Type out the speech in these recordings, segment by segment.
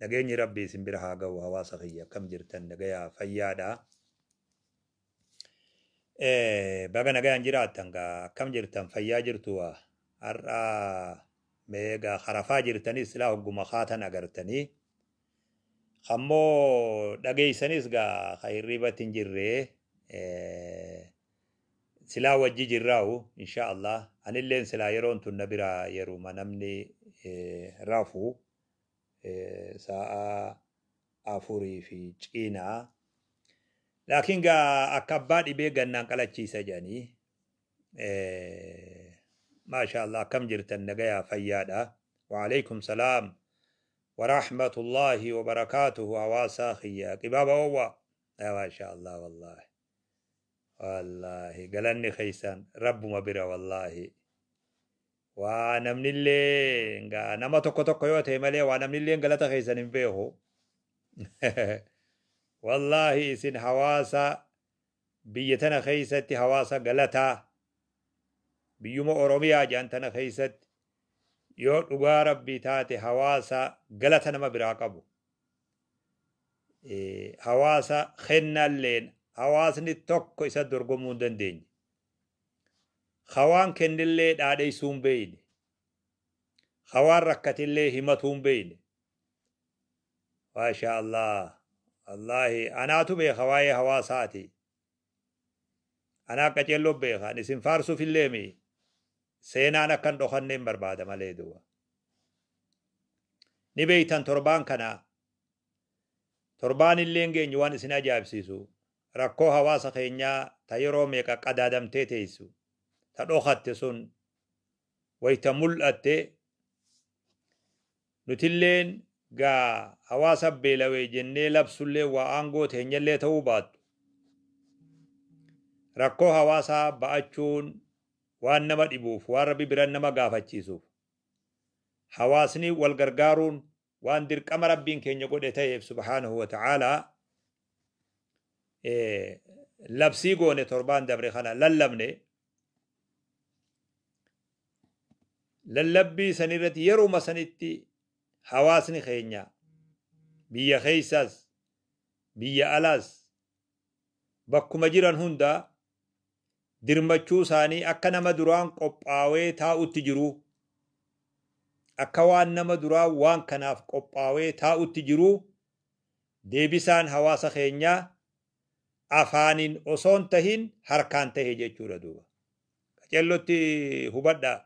Nageenyi rabbii isin bira haa gahu hawaasa kiyya akkam jirtan nagayaa fayyaadha baga nagayaan jiraattan gaa akkam jirtan fayyaa jirtu waa har'a meegaa harafaa jirtanis silaa hogguma kaatan agartanii kammoo dhageeysanis gaa ka hirribatti hin jirree silaa wajji jirraa'u insha Allah anilleen silaa yeroon tun na biraa yeruma namni rafu sa'a afurii fi ciina laakiin gaa akka abbaa dhibee gannaan qalachiisa jedhanii maashaallah akkam jirtan nagayaa fayyaadha waaleykum salaam waraahmatullaahi wabarakaatuhu hawaasaa kiyya qibaaba oowwa maashaallah wallaahi wallaahi galanni keessan rabbuma bira wallaahi Waa namnilleen ga nama tokko tokko yoo ta'e malee waa namnilleen galata keessan hin beeku. Wallaahi isin hawaasa biyya tana keessatti hawaasa galataa biyyuma Oromiyaa jedhan tana keessatti yoo dhugaa rabbii taate hawaasa galata nama biraa qabu. Eh, Hawaasa kennalleen hawaasni tokko isa dorgomuu hin dandeenye. Ka waan kennellee dhaadheessuu hin beeyne. Ka waan rakkatellee himatuu hin beeyne. Maashaa Allah. Wallaahi anaatu beeka waa'ee hawaasaati. Anaa qaceelloo beeka. Ani isin faarsuuf illee mi seenaan akka hin dhokanne hin barbaada malee duuba. Ni beeytan torbaan kana torbaan illee hin geenye waan isin ajaa'ibsiisu. Rakkoo hawaasa keenyaa ta yeroo meeqa qadaadamtee teessu, ta dhokatte sun wayta mul'atte, nutilleen ga hawaasa beelawe jennee labsulleen waa aangoo teenyallee ta'uu baattu, rakkoo hawaasaa ba'achuun waan nama dhibuuf, waan Rabbi biran nama gaafachiisuuf, hawaasni wal gargaaruun waan dirqama rabbiin keenya godhe ta'eef subhaanahu wa ta'aalaa labsii goone torbaan dabre kana lallabne lallabbii san irratti yeruma sanitti hawaasni keenya biyya keessaas biyya alaas bakkuma jiran hundaa dirmachuu isaanii akka nama duraan qophaawee taa'utti jiruu akka waan nama duraa waan kanaaf qophaawee taa'utti jiruu deebisaan hawaasa keenyaa afaaniin osoon tahin harkaan tahe jechuudha duuba. Qacellotti hubadhaa.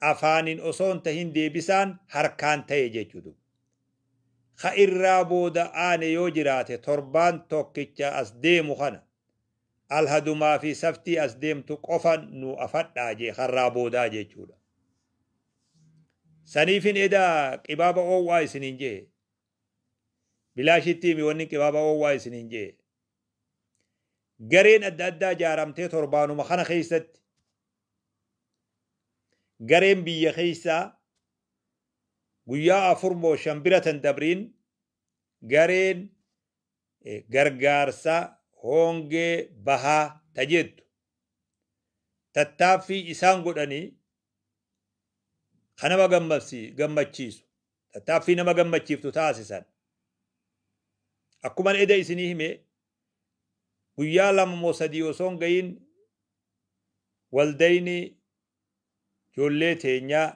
afaanin osoo hin tahin deebisaan harkaan tahe jechuudha. Ka irraa booda aane yoo jiraate torbaan tokkicha as deemu kana alhadumaa fi saftii as deemtu qofa nu afadhaa jee karraa boodaa jechuudha. Saniifin edaa qibaaba oowwaa isiniin jee. Bilaashitti himi wanni qibaaba oowwaa isiniin jee. Gareen adda addaa jaaramtee torbaanuma kana keessatti gareen biyya keessaa guyyaa afur moo shan bira tan dabriin gareen gargaarsa hoongee bahaa ta jettu tattaaffii isaan godhanii kan nama gammachiisu tattaaffii nama gammachiiftu taasisan akkuman eda isinii hime guyyaa lama moo sadii osoo hin gahin waldayni ijoollee teenyaa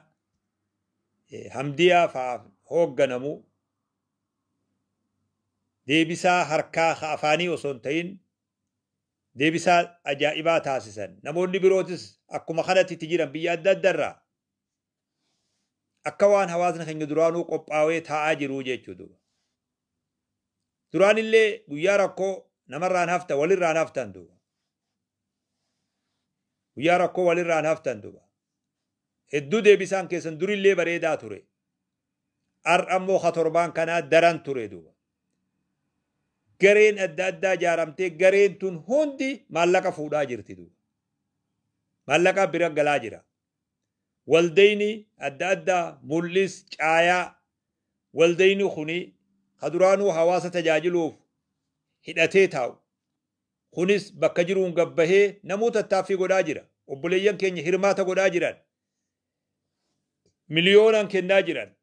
hamdiyaa fa'aa hoogganamu deebisaa harkaa ka afaanii osoo hin ta'in deebisaa ajaa'ibaa taasisan. Namoonni birootis akkuma kanatti itti jiran biyya adda addarraa Akka waan hawaasni keenya duraanuu qophaawee taa'aa jiruu jechuu duuba. Duraanillee guyyaa rakkoo namarraan hafta walirraan haftan duuba. Guyyaa rakkoo walirraan haftan duuba. Hedduu deebisaan keessan durillee bareedaa ture. Har'a immoo ha torbaan kanaa daran ture duuba. Gareen adda addaa ijaaramtee gareen tun hundi maallaqa fuudhaa jirti duuba. Maallaqaa bira galaa jira. waldayni adda addaa mul'is caayaa waldayni kuni ka duraanuu hawaasa tajaajiluuf hidhatee taa'u kunis bakka jiruun gad bahee namuu tattaaffii godhaa jira. Obboleeyyan keenya hirmaata godhaa jiran. Miliyoonaan kennaa jiran.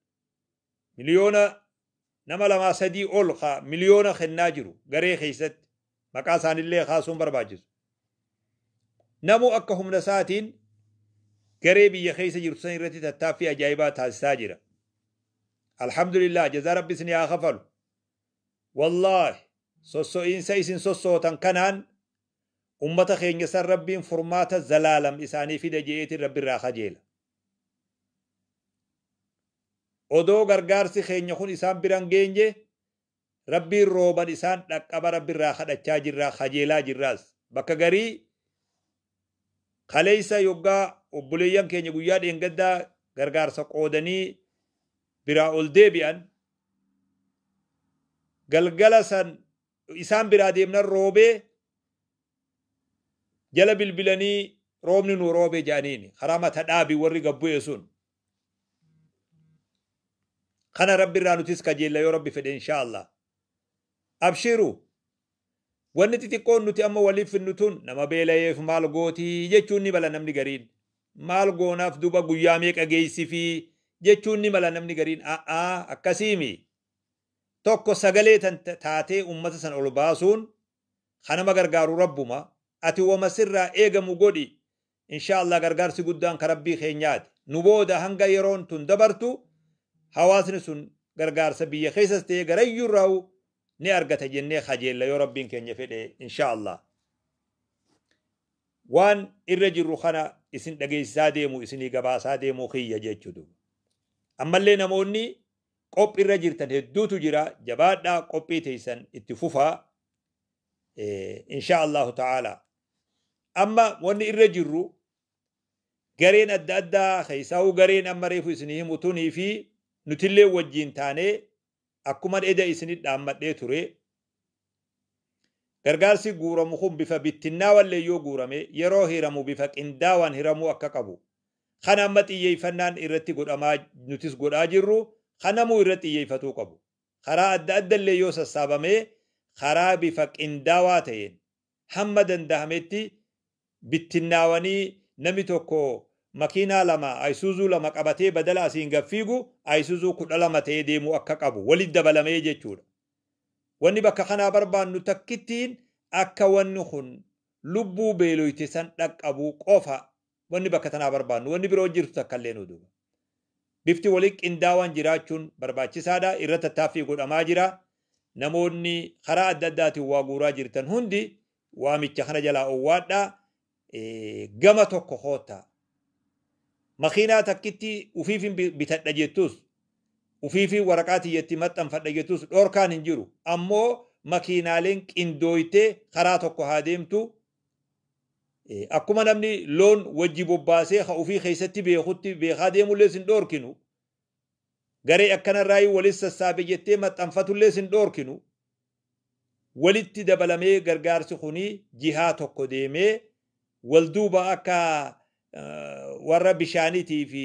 Miliyoona nama lamaa sadii ol ka miliyoona kennaa jiru garee keessatti maqaa isaanillee kaasuun barbaachisu. Namu akka humna isaatiin garee biyya keessa jirtu san irratti tattaaffii ajaa'ibaa taasisaa jira. Alhamdulillah jazaa rabbi isin haa kafalu. Wallaahi sosso'iinsa isin sossootan kanaan ummata keenya san rabbiin furmaata zalaalam isaanii fida je'eetiin rabbi irraa kajeela. Odoo gargaarsi keenya kun isaan bira hin geenye Rabbiin rooban isaan dhaqqaba Rabbi irraa kadhachaa jirra, kajeelaa jirraas. Bakka garii kaleessa yoggaa obboleeyyan keenya guyyaa dheengaddaa gargaarsa qoodanii biraa ol deebi'an galgala san Isaan biraa deemnan roobee jala bilbilanii roobni nuu roobee jedhaniin karaa mata dhaabi warri gad bu'e sun. Kana rabbi irraa nutis kajeella yoo rabbi fedhe inshaa Allah. Abshiru wanni xixiqqoon nuti amma waliif finnu tun nama beelayeef maal gooti jechuun ni mala namni gariin. Maal goonaaf duba guyyaa meeqa geessifii jechuun ni mala namni gariin a'aa akkasiimi. Tokko sagalee tan taatee ummata san ol baasuun ka nama gargaaru Rabbuma. Ati woma sirraa eegamu godhi. Inshaa Allaah gargaarsi guddaan ka Rabbii keenyaati. Nu booda hanga yeroon tun dabartu hawaasni sun gargaarsa biyya keessas ta'ee garayyuurraahu ni argata jennee kajeella yoo Rabbiin keenya fedhe inshaa Allaah. Waan irra jirru kana isin dhageessisaa deemu isinii gabaasaa deemuu kiyya jechuudha. Ammallee namoonni Qophi irra jirtan hedduutu jira jabaadhaa qophii teeysan itti fufaa inshaa Allahu ta'aala. Amma wanni irra jirru gareen adda addaa keessaahuu gareen amma reefu isinii himu tunii fi nutillee wajjiin taanee akkuman eda isinit dhaammadhee ture gargaarsi guuramu kun bifa bittinnaawallee yoo guurame yeroo hiramu bifa qindaawaan hiramuu akka qabu kan amma xiyyeeffannaan irratti godhamaa nutis godhaa jirru kan namuu irratti xiyyeeffatuu qabu. Karaa adda adda illee yoo sassaabamee karaa bifa qindaawaa ta'een hamma danda'ametti bittinnaawanii nami tokko makiinaa lama ayisuuzuu lama qabatee badala asiin gad fiigu ayisuuzuu kudha lama ta'ee deemuu akka qabu walitti dabalamee jechuudha. Wanni bakka kanaa barbaannu takkittiin akka wanni kun lubbuu beeloyte san dhaqqabu qofa wanni bakka tanaa barbaannu wanni biroo jirtu takka illee nu duuba. Bifti waliin qindaawaan jiraachuun barbaachisaadha. Irra tattaaffii godhamaa jira. Namoonni karaa adda addaatiin waa guuraa jirtan hundi waamicha kana jalaa owwaadhaa. Gama tokko koottaa. Makiinaa takkitti ufiifin bitadha jettus, ufiifin waraqaa tiyyatti maxxanfadha jettus dhorkaan hin jiru. Ammoo makiinaaleen qindooytee karaa tokko haa deemtu, Akkuma namni loon wajji bobbaasee ka ufii keessatti beekutti beekaa deemullee sin dhoorkinu, garee akkanarraayii walit sassaabe jettee maxxanfatullee sin dhoorkinu, walitti dabalamee gargaarsi kuni jihaa tokko deemee wal duuba akka warra bishaanitii fi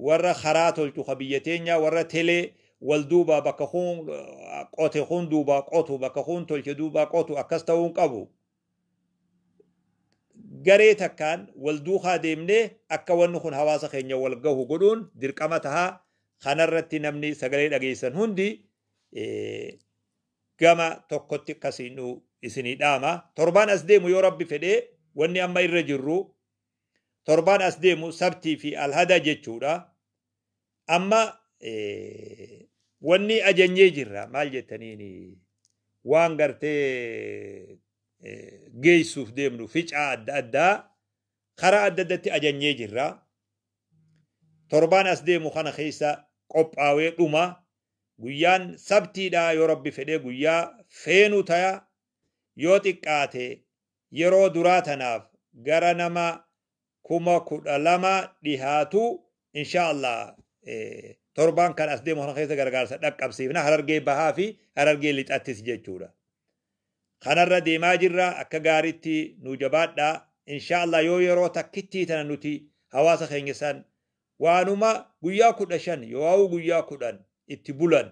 warra karaa tolchu ka biyya teenyaa warra telee wal duuba bakka kun qote kun duubaa qotu bakka kun tolche duubaa qotu akkas ta'uu hin qabu. garee takkaan wal duukaa deemnee akka wanni kun hawaasa keenya wal gahu godhuun dirqama taha kanarratti namni sagalee dhageessan hundi gama tokkotti akkasiin nu isinii dhaama torbaan as deemu yoo rabbi fedhe wanni amma irra jirru torbaan as deemu sabtii fi alhada jechuudha Amma wanni ajanyee jirra maal jettaniin waan gartee geessuuf deemnu ficaa adda addaa karaa adda addatti ajanyee jirra. Torbaan as deemu kana keessa qophaawee dhuma guyyaan sabtiidha yoo rabbi fedhee guyyaa feenu taya yoo xiqqaate yeroo duraa tanaaf gara nama kuma kudha lama dhihaatu insha Allah torbaan kan as deemu kana keessa gargaarsa dhaqqabsiifna harargee bahaa fi harargee lixattis jechuudha. Kanarra deemaa jirra akka gaariitti nu jabaadha insha Allah yoo yeroo takkittii tana nuti hawaasa keenya san waanuma guyyaa kudha shan yoo guyyaa kudhan itti bulan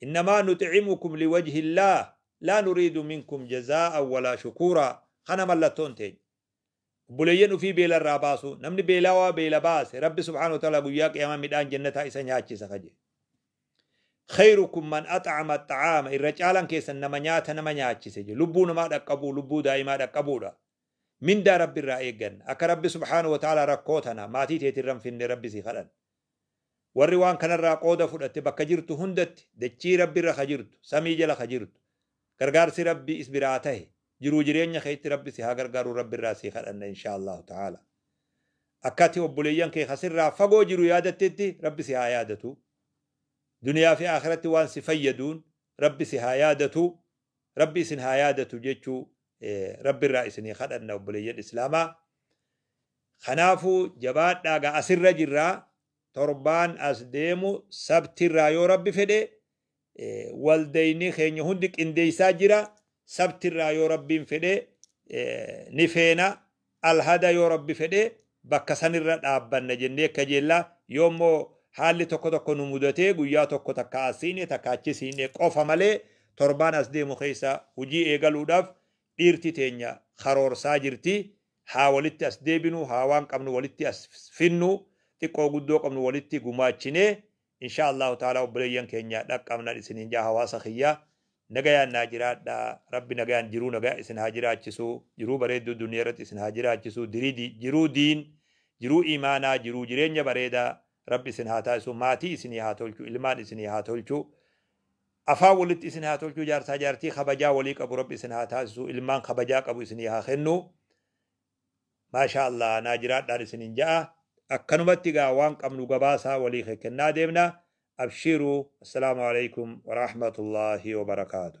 Innamaa nuxi'imukum liwajhillaah laa nuriidu minkum jazaa'an walaa shukuuraa Kana mallattoon teenya. Obboleeyyan ufii beela irraa baasuu. Namni beelawaa beela baase Rabbi subhaanahu wa ta'aalaa guyyaa qiyaamaa midhaan jannataa isa nyaachisa ka jedhe. Kheyrukum man ax'ama axxa'aama irra caalan keessan nama nyaata nama nyaachise jedhe. Lubbuu namaa dhaqqabuu, lubbuu daa'imaa dhaqqabuudha. Mindaa Rabbi irraa eegganna. Akka Rabbi subhaanahu wa ta'aalaa rakkoo tana maatii teetirra hin finne Rabbi sii kadhanna. Warri waan kanarraa qooda fudhatte bakka jirtu hundatti dachii Rabbi irra ka jirtu, samii jala ka jirtu, gargaarsi Rabbi is biraa tahe, jiruu jireenya keetti Rabbi si haa gargaaruu Rabbi irraa sii kadhanna inshaa Allaahu ta'aala. Akka ati obboleeyyan kee ka sirraa fagoo jiru yaadattetti Rabbi si haa yaadatu. Duniyaa fi aakhiratti waan si fayyaduun Rabbi si haa yaadatu. Rabbi isin haa yaadatu jechuu Rabbi irraa isinii kadhanna obboleeyyan Islaamaa. Kanaafuu jabaadhaa egaa asirra jirra torbaan as deemu sabtirraa yoo rabbi fedhe waldayni keenya hundi qindeessaa jira sabtirraa yoo rabbiin fedhe ni feena alhada yoo rabbi fedhe bakka sanirra dhaabbanna jennee kajeella yoo immoo haalli tokko tokko nu mudatee guyyaa tokko takka asiine takka achisiine qofa malee torbaan as deemu keessa hojii eegaluudhaaf Dhiirti teenya karoorsaa jirti haa walitti as deebinu haa waan qabnu walitti as finnu xiqqoo guddoo qabnu walitti gumaachinee inshaa Allahu ta'aalaa obboleeyyan keenya dhaqqabnan isiniin ja'a hawaasa kiyya nagayaan naa jiraadha rabbi nagayaan jiruu nagaa isin haa jiraachisu jiruu bareedduu duniya irratti isin haa jiraachisu dirii di jiruu diin jiruu imaanaa jiruu jireenya bareedaa rabbi isin haa taasisu maatii isinii haa tolchu ilmaan isinii haa tolchu Afaan walitti isin haa tolchuu jaarsaa jaartii kabajaa walii qabu rabbi isin haa taasisuu ilmaan kabajaa qabu isinii haa kennu maashaa allaah naa jiraadhaan isinin ja'a akkanumatti gaa waan qabnu gabaasaa walii kekkennaa deemna abshiiruu assalaamu aleykum waraahmatullaahi wabarakaatu